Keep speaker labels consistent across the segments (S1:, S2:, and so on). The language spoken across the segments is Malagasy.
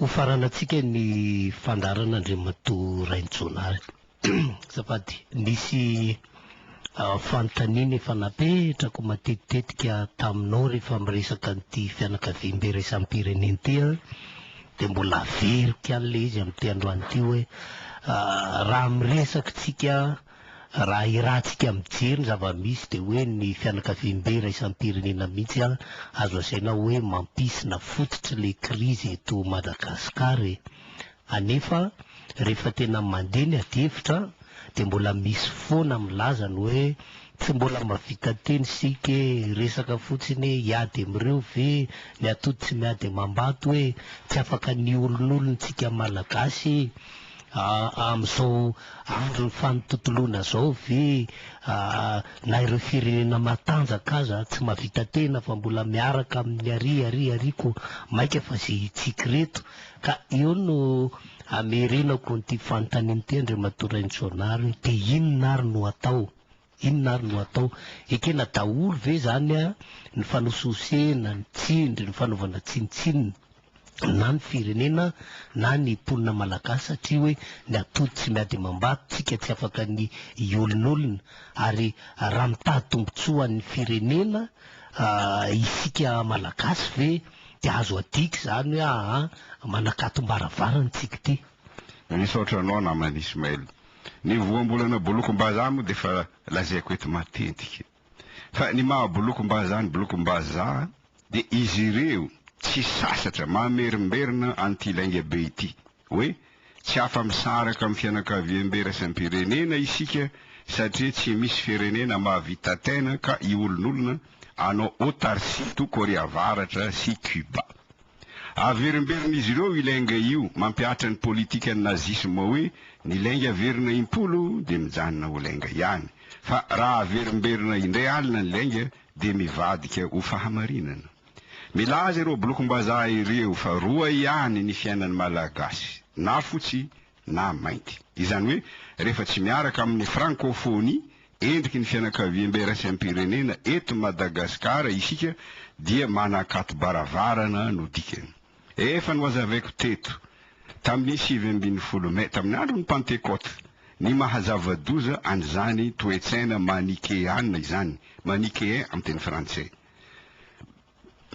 S1: Hofaranantsika ny fandaharan' Andriamatoa Rainijaonary azafady. Nisy fanontaniana efa napetrako matetitetika taminao rehefa miresaka an'ity fianakaviambe iraisam-pirenena ity aho, dia mbola averiko ihany ilay izy amin'ity androany ity hoe, raha miresaka tsika Raha hirantsika mijery ny zava-misy dia hoe ny fianakaviambe iraisampirenena mihitsy azo asaina hoe mampisy na fototry le krizy eto Madagascar e! Anefa rehefa tena mandeha ny adihevitra dia mbola misy foana milaza ny hoe tsy mbola mavita teny isika e! Resaka fotsiny hoe hiady amin'ireo ve ny atody tsy miady amam-bato e! Tsy afaka ny olon'olon-tsika Malagasy e! Aa amin'izao andron'ny fanototoloana izao ve na ireo firenena matanjaka aza tsy mahavita tena fa mbola miaraka amin'ny ary ary ary ko maika fa ze hitsiky reto? Ka eo no amerenako an'ity fanontaniana ity Andriamatoa Rainitsonary hoe dia inona ary no atao? Inona ary no atao? Ekena daholo ve izany ny fanosihosena, ny tsindry, ny fanaovana tsinontsinona na ny firenena na ny mponina malagasy satria hoe ny atody tsy miady amam-bato, tsika tsy afaka ny hiolonolona ary raha mitady tombontsoa ho an'ny firenena isika malagasy ve dia azo adika izany hoe aa manakatom-baravarana tsika ity? Misaotra anao
S2: namana Ismaël. Ny voambolana bolokom-bazaha moa dia efa lazaiko eto matetika. Fa ny maha bolokom-bazaha ny bolokom-bazaha dia izy ireo tsy sasatra mamerimberina an'ity lainga be ity hoe tsy afa-misaraka amin'ny fianakaviambe iraisam-pirenena isika satria tsy misy firenena mahavita tena ka iolonolona anao Autarcie toa Korea Avaratra sy Cuba. Averimberin'izy ireo i Lenge io, mampihatra ny politikan'ny nazisma hoe ny Lenge averina impolo dia mijanona ho Lenge ihany, fa raha averimberina indray alina ny Lenge dia mivadika ho fahamarinana. Milaza ireo blokom-bazaha ireo fa roa ihany ny fiainan'ny Malagasy, na fotsy na mainty. Izany hoe rehefa tsy miaraka amin'ny frankofonia endriky ny fianakaviambeiraisam-pirenena eto Madagasikara isika dia manakatobaravarana no dikany. Efa nohazavaiko teto tamin'ny sivy ambin'ny folo Mai, tamin'ny andron'ny Pantekoty, ny mahazava-doza an'izany toe-tsaina manikeana izany, manichéen amin'ny teny frantsay.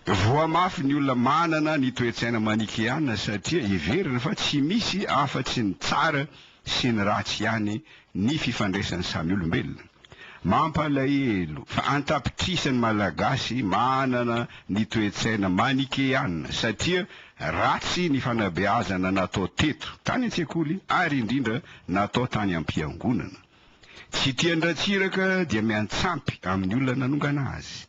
S2: Voa mafy ny olona manana ny toe-tsaina manicheana satria heveriny fa tsy misy afa-tsy ny tsara sy ny ratsy ihany ny fifandraisan'ny samy olombelona. Mampalahelo fa an-tapitrisa ny Malagasy manana ny toe-tsaina manicheana satria ratsy ny fanabeazana natao teto, tany an-tsekoly ary indrindra natao tany am-piangonana. Tsy tian-dRatsiraka dia miantsampy amin'ny olona nanongana azy.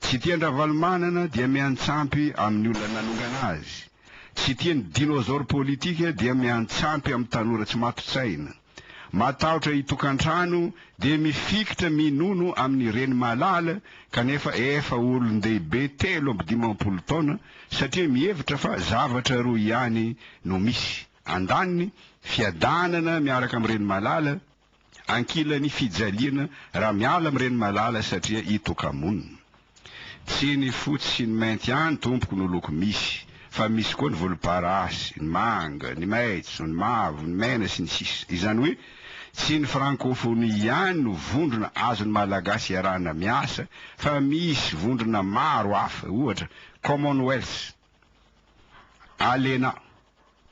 S2: Tsy tian-dRavalomanana dia miantsampy amin'ny olona nanongana azy. Tsy tian'ny dinosaures politika dia miantsampy amin'ny tanora tsy mato-tsaina. Matahotra hitokan-trano dia mifikitra minono amin'ny reny malala kanefa efa olon-dehibe telo amby dimampolo taona satria mihevitra fa zavatra roa ihany no misy, andaniny, fiadanana miaraka amin'ny reny malala, Ankilan'ny fijaliana raha miala amin'ireny malala satria itoka-monina. Tsy ny fotsy sy ny mainty ihany tompoko no loko misy fa misy koa ny volomparasy, ny manga, ny maitso, ny mavo, ny mena sy ny sisa. Izany hoe tsy ny frankofonia ihany no vondrona azon'ny Malagasy iarahana miasa fa misy vondrona maro hafa, ohatra, Commonwealth. ALENA,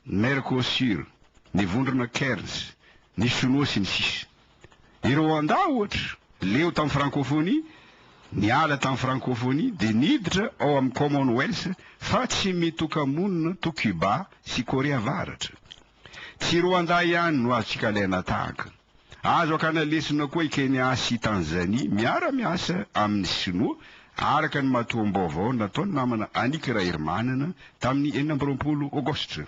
S2: Mercosur, ny vondrona Cairns, ny Sonoa sy ny sisa. I Rwanda ohatra, leo tamin'ny Frankofonia, niala tamin'ny Frankofonia dia niditra ao amin'ny Commonwealth fa tsy mitoka-monina toa Cuba sy Korea Avaratra. Tsy Rwanda ihany no azontsika alaina tahaka. Azo akana lesona koa i Kenya sy i Tanzania miara-miasa amin'ny Sinoa, araka ny matoam-baovao nataon'ny namana Annick Raherimanana tamin'ny enina amby roapolo Aogositra.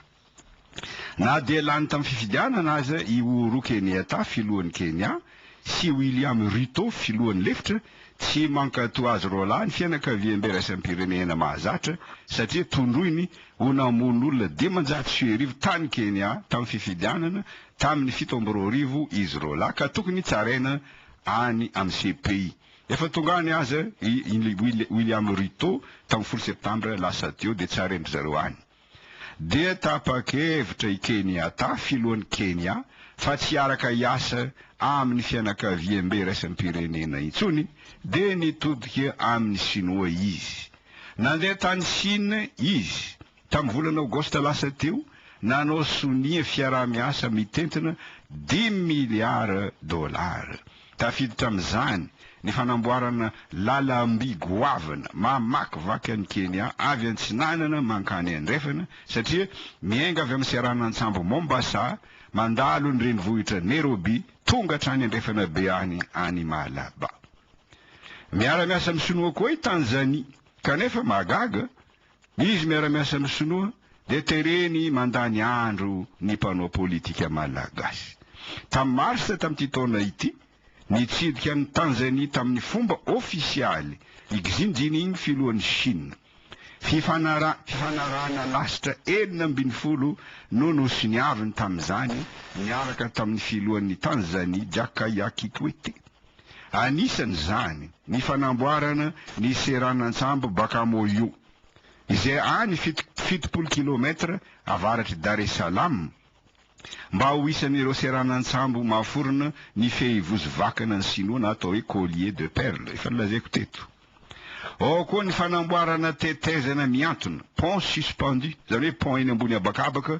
S2: Na dia lany tamin'ny fifidianana aza i Uhuru Kenyatta, filohan'i Kenya, sy William Ruto, filohan'ny lefitra, Tsy mankatò azy roalahy ny fianakaviambe raisam-pirenena mahazatra satria tondroiny ho namono olona dimanjato sy arivo tany Kenya tamin'ny fifidianana tamin'ny fito amby roa arivo izy roalahy ka tokony tsaraina any amin'ny CPI. Efa tonga any aza i William Ruto tamin'ny folo septambra lasa teo dia tsarain-dry zareo any. dia tapa-kevitra i Kenyatta, filohan'i Kenya, fa tsy hiaraka hiasa amin'ny fianakaviambe iraisam-pirenena intsony, dia nitodika amin'i Sinoa izy. Nandeha tany Shina izy, tamin'ny volana Aogositra lasa teo, nanao sonia fiaraha-miasa mitentina dimy miliara dolara. Tafiditra amin'izany ny fanamboarana lalam-by goavana mamakivaky an'i Kenya avy antsinanana mankany andrefana, satria miainga avy amin'ny seranan-tsambo Mombasa, mandalo ny renivohitra Nairobi, tonga hatrany andrefana be any any Malaba. Miara-miasa amin'ny Sinoa koa i Tanzania, kanefa mahagaga, Izy miara-miasa amin'ny sinoa dia tereny mandany andro ny mpanao politika malagasy. Tamin'ny marsa tamin'ity taona ity, nitsidika an'i Tanzania tamin'ny fomba ofisialy i Xi Jinping filohan'i Shina. Fifanarahana lasitra enina ambin'ny folo no nosoniaviny tamin'izany niaraka tamin'ny filohan'i Tanzania Jakaya Kikwete. Anisan'izany ny fanamboarana ny seranan-tsambo Bakamoyo, izay any fitopolo kilômetra avaratr'i Dar es Salaam, mba ho isan'ireo seranan-tsambo mahaforona ny fehivozo vakana ny Sinoa na atao hoe collier de perles, efa nolazaiko teto. Ao koa ny fanamboarana tetezana mihantona, pont suspendu, izany hoe pont eny ambony habakabaka,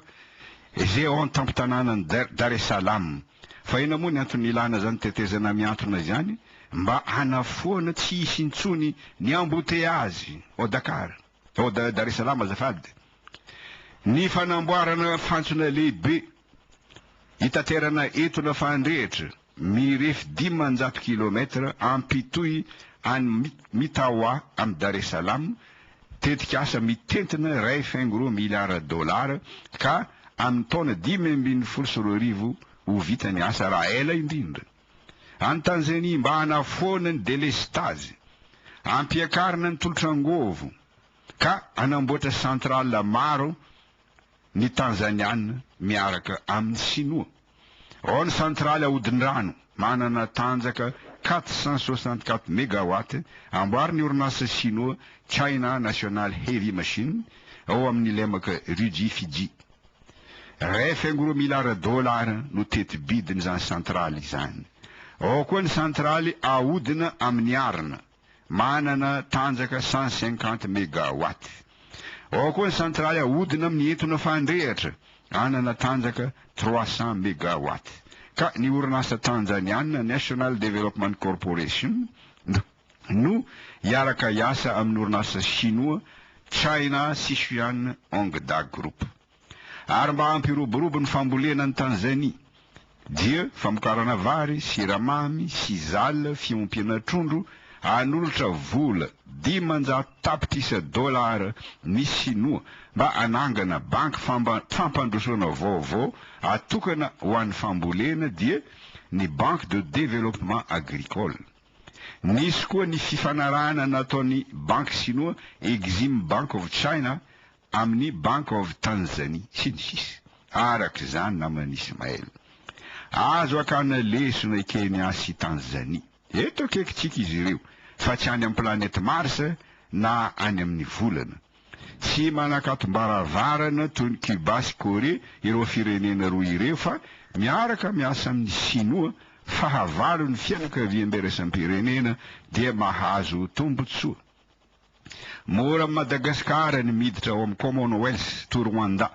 S2: izay ao an-tampon-tanànan'i Dar es Salaam. Fa inona moa ny antony ilàna izany tetezana mihantona izany? Mba hanafoana tsy hisy intsony ny amboteazy ao Dakar, ao Dar es Salaam azafady. Ny fanamboarana fantsona lehibe Hitaterana entona fahandrehitra mirefy dimanjato kilômetatra ampitohy any Mitawa amin'i Dar es Salaam, tetikasa mitentina iray faingo roa miliara dolara ka amin'ny taona dimy ambin'ny folo sy roa arivo ho vita ny asa raha ela indrindra. Any Tanzania mba hanafoana ny delestazy, hampiakarina ny tolotr'angovo ka hanamboatra centrale maro ny Tanzaniana miaraka amin'ny Sinoa. Ao ny santraly ahodin-drano manana tanjaka quatre cent soixante-quatre megawatts amboarin'ny orinasa Sinoa China National Heavy Machine ao amin'ny lemaka Riji Fiji. Iray faingo'roa miliara dolara no teti-bidin'izany santraly izany. Ao koa ny santraly ahodina amin'ny arina. Manana tanjaka cent cinquante megawatt. Ao koa ny santraly ahodina amin'ny entona fandrehatra, anana tanjaka trois cents megawatt. Ka ny orinasa Tanzaniana National Development Corporation no hiaraka hiasa amin'ny orinasa Shinoa China Sishuan Hongda Group. Ary mba hampiroborobo ny fambolena any Tanzanie dia famokarana vary, siramamy, sisal, fiompiana trondro, hanolotra vola dimanjato tapitrisa dolara ny Sinoa mba hanangana banky fampandrosoana vaovao atokana ho an'ny fambolena dia ny Banque de Développement Agricole. Nisy koa ny fifanarahana nataon'ny Banky Sinoa Exim Bank of China amin'ny Bank of Tanzania, sy ny sisa Araka izany naman'i Ismael, azo akana lesona i Kenya sy Tanzania. Eto akaikintsika izy ireo, fa tsy any amin'ny planète Mars na any amin'ny volana. Tsy manakatom-baravarana toy ny Cuba sy Corée ireo firenena roa ireo, fa miaraka miasa amin'ny Sinoa, fahavalon'ny fianakaviam-biraisam-pirenena dia mahazo tombontsoa. Mora amin'i Madagasikara ny miditra ao amin'ny Commonwealth toa Rwanda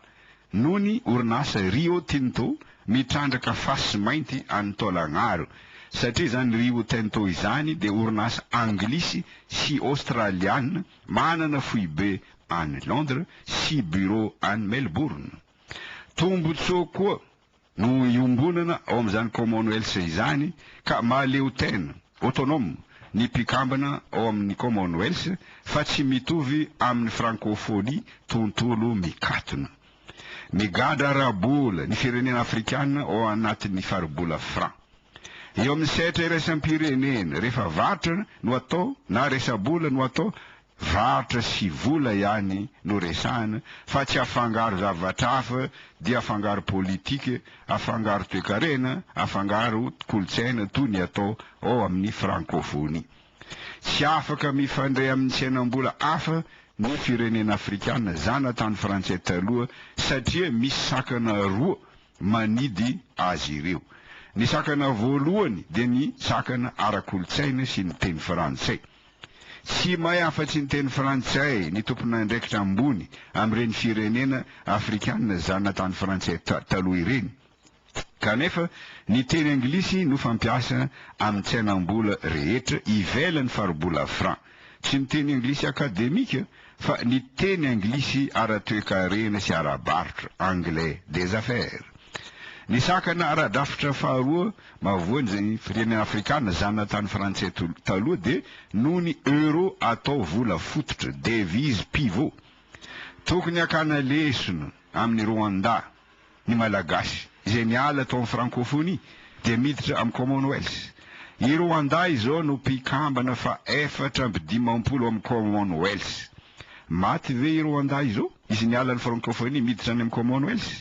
S2: noho ny orinasa Rio Tinto mitrandraka fasy mainty any Tolagnaro satria izany Rio Tinto izany dia orinasa anglisy sy aostraliana manana foibe any Londres sy bureau any Melbourne. Tombontsoa koa no iombonana ao amin'izany Commonwealth izany ka mahaleotena, autonome, ny mpikambana ao amin'ny Commonwealth fa tsy mitovy amin'ny Francophonie tontolo mikatona. Migadra ara-bola ny firenena afrikana ao anatin'ny faribola Fran. Eo amin'ny sehatra iraisam-pirenena, rehefa varotra no atao na resa-bola no atao varotra sy vola ihany no resahana fa tsy afangaro zavatra hafa dia afangaro politika, afangaro toekarena, afangaro kolontsaina toy ny atao ao amin'ny frankofonia. Tsy afaka mifandray amin'ny tsenam-bola hafa ny firenena afrikana zanatany frantsay taloha satria misy sakana roa manidy azy ireo. Ny sakana voalohany dia ny sakana ara-kolontsaina sy ny teny frantsay. Tsy mahay afa-tsy ny teny frantsay ny tompon'andraikitra ambony amin'ireny firenena afrikana zanatany frantsay taloha ireny, kanefa ny teny anglisy no fampiasa amin'ny tsenam-bola rehetra ivelan'ny faribola franc. Tsy ny teny anglisy akademika Fa ny teny anglisy ara-toekarena sy ara-barotra, anglais des affaires. Ny sakana ara-drafitra faharoa mavoan'ny firenena afrikana zanatany frantsay taloha dia noho ny euro atao vola fototra, devise pivot. Tokony hakana lesona amin'ny Rwanda ny Malagasy izay niala tao amin'ny Frankofonia dia miditra amin'ny Commonwealth. I Rwanda izao no mpikambana fahefatra amby dimampolo amin'ny Commonwealth. Maty ve i Rwanda izao? Izy niala ny Frankofonia miditra any amin'ny Commonwealth?